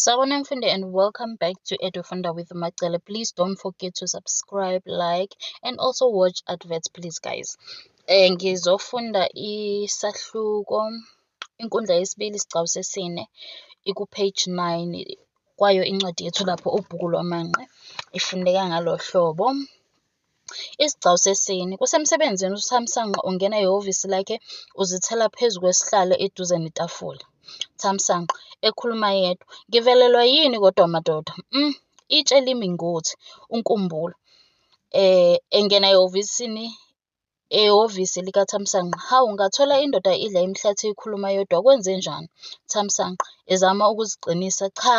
Sawubona mfundi and welcome back to Edufunda with Macele. Please don't forget to subscribe, like and also watch adverts please guys. Eh ngizofunda isahluko inkundla yesibili isigcawu sesine iku page 9 kwayo incwadi yethu lapho ubhuku lwamanqe ifundeka ngalo hlobo. Isigcawu sesine. Kusemsebenzini uThamsanqa ungena ehhovisi lakhe uzithela phezu kwesihlalo eduze netafula. Thamsanqa, ekhuluma yedwa, Ngivelelwa yini kodwa madoda? Mm, itshe limi ngothi, uNkumbulo. Eh, engena ehhovisini ehhovisi likaThamsanqa. Hawu, ngathola indoda idla imihlathi ikhuluma yodwa. Kwenzenjani? Thamsanqa, ezama ukuziqinisa. Cha,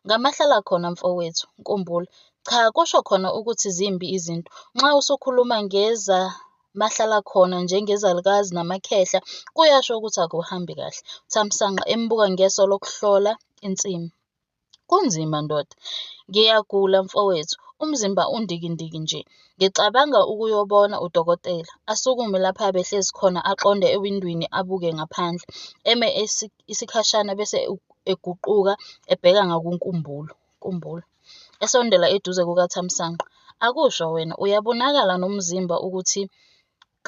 ngamahlala khona mfowethu. Nkumbulo, cha, kusho khona ukuthi zimbi izinto. Nxa usukhuluma ngeza mahlala khona njengezalukazi namakhehla kuyasho ukuthi akuhambi kahle. Thamsanqa, embuka ngeso lokuhlola insimu. Kunzima ndoda. Ngiyagula mfowethu, umzimba undikindiki nje. Ngicabanga ukuyobona udokotela. Asukume lapha abehlezi khona aqonde ewindwini abuke ngaphandle. Eme isikhashana bese eguquka ebheka ngakunkumbulo. Kumbulo. Esondela eduze kukaThamsanqa. Akusho wena, uyabonakala nomzimba ukuthi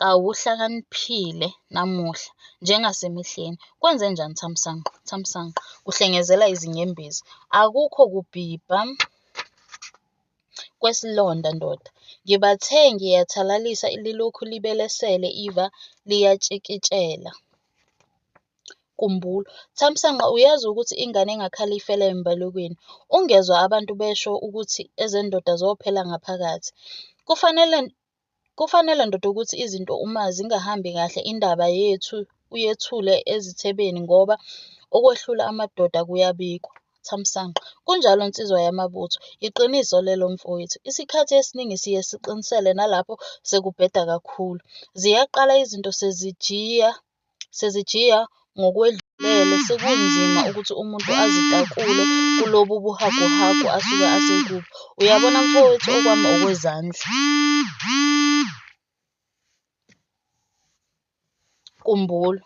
Kawuhlakaniphile namuhla njengasemihleni. Kwenzenjani Thamsanqa? Thamsanqa, Kuhlengezela izinyembezi. Akukho kubhibha kwesilonda ndoda. Ngibathe ngiyathalalisa lilokhu libelesele iva liyatshikitshela. Kumbulo, Thamsanqa uyazi ukuthi ingane engakhali ifela embalekweni. Ungezwa abantu besho ukuthi ezendoda zophela ngaphakathi. Kufanele Kufanele ndoda ukuthi izinto uma zingahambi kahle indaba yethu uyethule ezithebeni ngoba okwehlula amadoda kuyabikwa. Thamsanqa, Kunjalo nsizwa yamabutho, yiqiniso lelo mfowethu. Isikhathi esiningi siye siqinisele nalapho sekubheda kakhulu. Ziyaqala izinto sezijiya Sizijiya ngokwedlulele sekunzima ukuthi umuntu azitakule kulobu buhaguhagu asuke asekubo. Uyabona mfowethu okwami okwezandla. Kumbulo.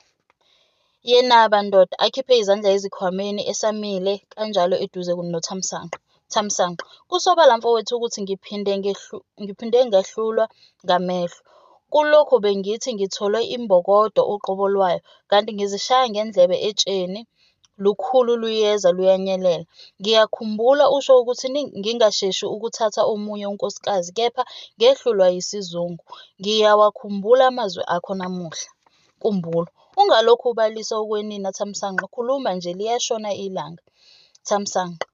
Yenaba ndoda akhiphe izandla ezikhwameni esamile kanjalo eduze nothamsanqa. Thamsanqa, Kusobala mfowethu ukuthi ngiphinde ngehlu, ngiphinde ngehlulwa ngamehlo. Kulokhu bengithi ngitholwe imbokodo uqobo lwayo, kanti ngizishaya ngendlebe etsheni lukhulu luyeza luyanyelela. Ngiyakhumbula usho ukuthi ngingasheshi ukuthatha omunye unkosikazi kepha ngehlulwa yisizungu. Ngiyawakhumbula amazwi akho namuhla. Kumbulo, ungalokhu ubalisa ukwenina Thamsanqa, khuluma nje liyashona ilanga. Thamsanqa,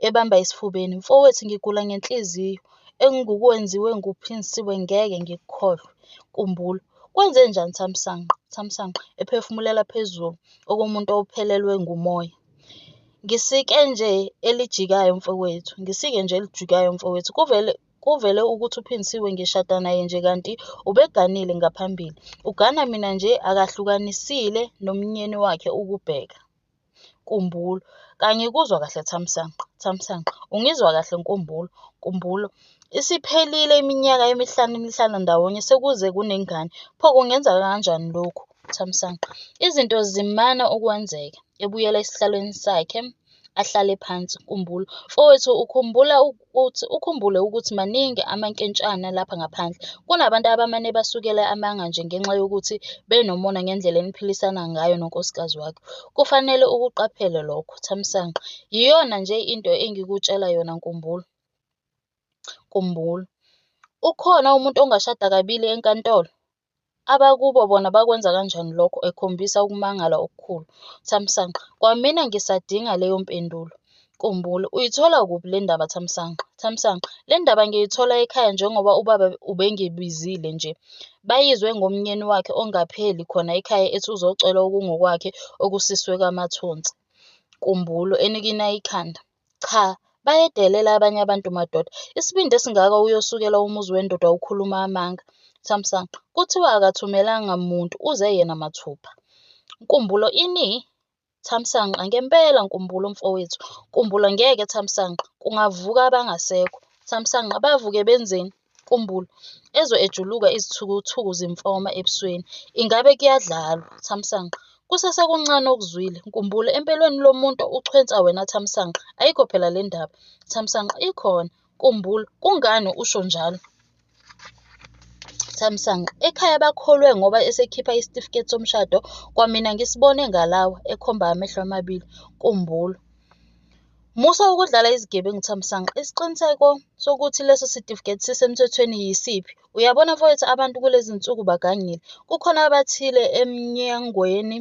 ebamba esifubeni, Mfowethu, ngigula ngenhliziyo. Engikwenziwe nguPhinsiwe ngeke ngikukhohlwe. Kumbula. Kwenze njani Thamsanqa? Thamsanqa, ephefumulela phezulu okomuntu ophelelwe ngumoya. Ngisike nje elijikayo mfowethu, ngisike nje elijikayo mfowethu. Kuvele kuvele ukuthi uPhinsiwe ngishada naye nje kanti ubeganile ngaphambili. Ugana mina nje akahlukanisile nomnyeni wakhe ukubheka. Nkumbulo, Cha ngikuzwa kahle Thamsanqa. Thamsanqa, Ungizwa kahle Nkumbulo. Nkumbulo, Isiphelile iminyaka emihlanu nihlala ndawonye sekuze kunengane. Pho kungenzeka kanjani lokhu? Thamsanqa, Izinto zimana ukwenzeka. Ebuyela esihlalweni sakhe ahlale phansi. Nkumbulo, Mfowethu ukhumbula Uthi ukhumbule ukuthi maningi amankentshana lapha ngaphandle. Kunabantu abamane basukele amanga nje ngenxa yokuthi benomona ngendlela eniphilisana ngayo nonkosikazi wakhe. Kufanele ukuqaphele lokho, Thamsanqa. Yiyona nje into engikutshela yona, Nkumbulo. Nkumbulo. Ukhona umuntu ongashada kabili enkantolo? Abakubo bona bakwenza kanjani lokho? ekhombisa ukumangala okukhulu. Thamsanqa, Kwamina ngisadinga leyo mpendulo. Kumbula, Uyithola kuphi le ndaba Thamsanqa? Thamsanqa, Le ndaba ngiyithola ekhaya njengoba ubaba ubengibizile nje. Bayizwe ngomnyeni wakhe ongapheli khona ekhaya ethi uzocela okungokwakhe okusiswe kaMathonsi. Kumbulo, Enikina ikhanda. Cha bayedelela abanye abantu madoda. Isibindi esingaka uyosukela umuzi wendoda ukhuluma amanga. Thamsanqa, Kuthiwa akathumelanga muntu uze yena mathupha. Nkumbulo, Ini? Thamsanqa, Ngempela Nkumbulo mfowethu. Nkumbulo, Ngeke Thamsanqa kungavuka abangasekho. Thamsanqa, Bavuke benzeni? Nkumbulo, Ezwe ejuluka izithukuthuku zimfoma ebusweni. Ingabe kuyadlalwa? Thamsanqa, Kusesekuncane okuzwile. Nkumbulo, Empeleni lo muntu uchwensa wena Thamsanqa. Ayikho phela le ndaba. Thamsanqa, Ikhona. Nkumbulo, Kungani usho njalo? Thamsanqa, Ekhaya bakholwe ngoba esekhipha isitifiketi somshado kwamina ngisibone ngalawa, ekhomba amehlo amabili. Nkumbulo, Musa ukudlala izigebengu Thamsanqa. Isiqiniseko sokuthi leso sitifiketi sisemthethweni yisiphi? Uyabona mfowethu abantu kulezi nsuku bagangile. Kukhona abathile emnyangweni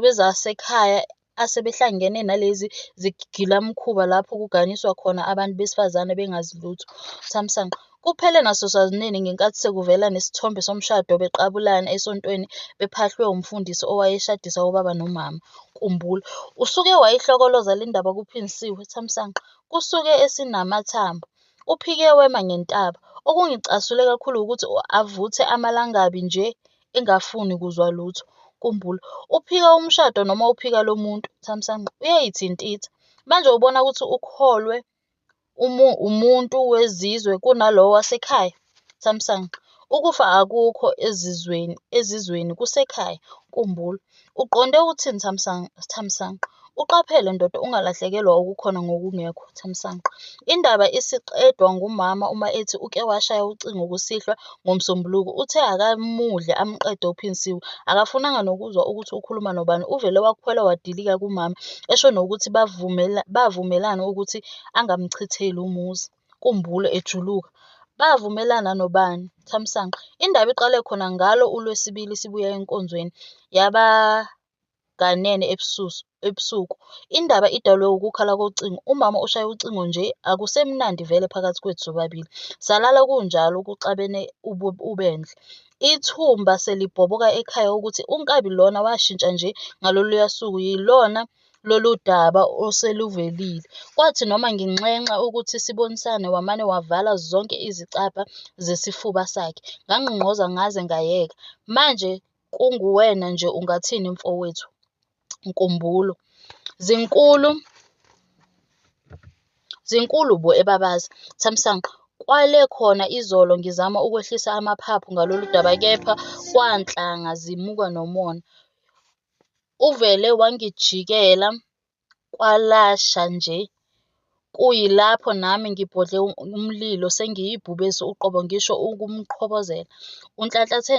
wezasekhaya asebehlangene nalezi zigilamkhuba lapho kuganiswa khona abantu besifazane bengazi lutho. Thamsanqa. Kuphele nasosazulwini ngenkathi sekuvela nesithombe somshado beqabulana esontweni bephahlwe umfundisi owayeshadisa ubaba nomama. Kumbula, usuke wayihlokoloza le ndaba kuPhinnisiwe, Thamsanqa, kusuke esinamathambo. Uphike wema ngentaba. Okungicasule kakhulu wukuthi avuthe amalangabi nje engafuni kuzwa lutho. Kumbula, uphika umshado noma uphika lo muntu, Thamsanqa, uyayithintitha. Manje ubona ukuthi ukholwe umu, umuntu wezizwe kunalowo wasekhaya? Samsung. Ukufa akukho ezizweni, ezizweni kusekhaya. Nkumbulo. Uqonde uthini Samsung? Samsung. Uqaphele ndoda ungalahlekelwa okukhona ngokungekho. Samsung. Indaba isiqedwa ngumama uma ethi uke washaya ucingo kusihlwa ngoMsombuluko, uthe akamudle amqede uPhinsiwe. Akafunanga nokuzwa ukuthi ukhuluma nobani, uvele wakhwela wadilika kumama, esho nokuthi bavumela, bavumelana ukuthi angamchitheli umuzi, kumbule ejuluka. Bavumelana nobani? Thamsanqa. Indaba iqale khona ngalo uLwesibili sibuya enkonzweni, yaba kanene ebusuku. Indaba idalwe ukukhala kocingo. Umama ushaya ucingo nje, akusemnandi vele phakathi kwethu sobabili. Salala kunjalo kuxabene ubendle. Ithumba selibhoboka ekhaya ukuthi unkabi lona washintsha nje ngaloluya suku, yilona lolu daba oseluvelile. Kwathi noma nginxenxa ukuthi sibonisane, wamane wavala zonke izicabha zesifuba sakhe. Ngangqongqoza ngaze ngayeka. Manje kunguwena nje ungathini mfowethu Nkumbulo. Zinkulu zinkulu bo ebabazi. Thamsanqa, kwale khona izolo ngizama ukwehlisa amaphaphu ngalolu daba kepha kwanhlanga zimuka nomona. Uvele wangijikela kwalasha nje kuyilapho nami ngibhodle umlilo sengiyibhubesi uqobo ngisho ukumqhobozela. Unhlanhlathe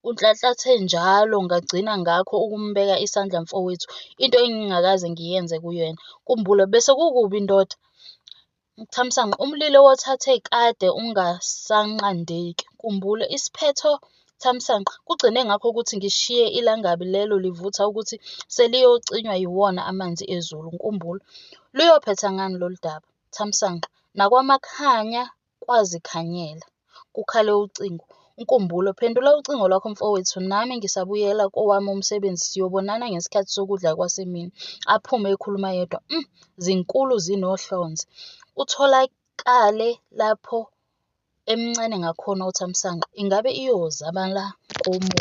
Unhlanhlathe njalo ngagcina ngakho ukumbeka isandla mfowethu, into engingakaze ngiyenze kuyena. Nkumbulo, Bese kukubi ndoda? Thamsanqa, Umlilo wothathe kade ungasanqandeki. Nkumbulo, Isiphetho Thamsanqa, kugcine ngakho ukuthi ngishiye ilangabi lelo livutha ukuthi seliyocinywa yiwona amanzi ezulu. Nkumbulo, Luyophetha ngani lolu daba? Thamsanqa, Nakwamakhanya kwazikhanyela. Kukhale ucingo. Nkumbulo, phendula ucingo lwakho mfowethu, nami ngisabuyela kowami umsebenzi, siyobonana ngesikhathi sokudla kwasemini. Aphume ekhuluma yedwa. Mm, zinkulu zinohlonze. Utholakale lapho emncane ngakhona uthamsanqa. Ingabe iyoza bala komubi?